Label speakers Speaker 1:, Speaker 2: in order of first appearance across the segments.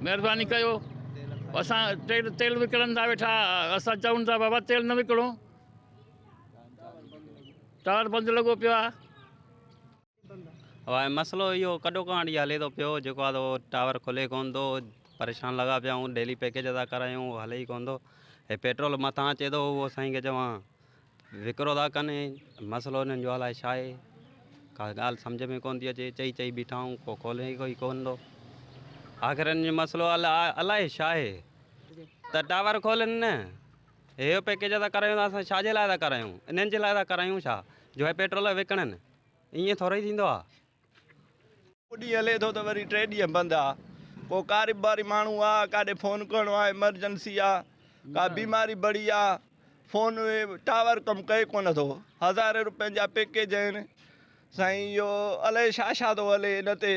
Speaker 1: مهرباني ڪيو اسان تيل تيل وڪڻن ٿا ويٺا اسان چون ٿا بابا تيل نه وڪڻو ٽاور بند لڳو پيو آهي هاڻي
Speaker 2: مسئلو اهو ڪڏو ڪانڊ جي هلي ٿو پيو جيڪو آهي اهو ٽاور کلي ڪون ٿو پريشان لڳا پيا آهيون ڊيلي پيڪيج ادا ڪرايون هلي ئي ڪون ٿو هي پيٽرول مٿان اچي ٿو اهو سائين کي چوان ذڪر ادا ڪن ۽ مسئلو انهن جو الائي ڇا آهي؟ ڪا ڳالهه سمجهه ۾ ڪونه ٿي اچي، چئي چئي بيٺا آهيون، ڪو کولي ئي ڪونه ٿو. آخر انهن جو مسئلو الائي ڇا آهي ته ٽاور کولن نه، هيء پيڪيج ادا ڪرايون ته اسان ڇا جي لاء ٿا ڪرايون، انهن جي لاء ٿا ڪرايون ڇا جو هيء پيٽرول وڪڻن، ائين ٿورئي ٿيندو آهي. هڪ
Speaker 3: ڏينهن هلي ٿو ته وري ٽي ڏينهن بند آ. ڪو ڪارباري ماڻهو آ، ڪاڏي فون ڪرڻو آ، ايمرجنسي آ، ڪا بيماري بڙي آ، فون ٽاور ڪم ڪئي ڪونه ٿو. هزارين روپين جا پيڪيج آهن. سائين اهو الائي ڇا ڇا ٿو هلي ان تي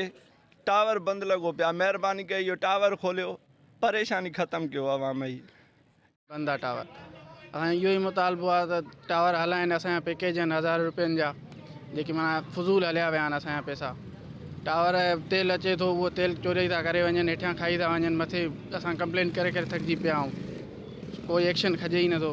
Speaker 3: ٽاور بند لڳو پيو آ. مهرباني ڪري اهو ٽاور کوليو، پريشاني ختم ڪيو عوام جي. بندا
Speaker 4: ٽاور اسان جو اهو ئي مطالبو آهي ته ٽاور هلائين اسان جا پيڪيج آهن هزارين روپين جا جيڪي معنيٰ فضول هليا ويا آهن اسان جا پيسا ٽاور تيل اچي ٿو اهو تيل چوري ٿا ڪري وڃن هيٺيان کائي ٿا وڃن مٿي اسان ڪمپلين ڪري ڪري ٿڪجي پيا آهيون ڪوئي ايڪشن کجي ئي نٿو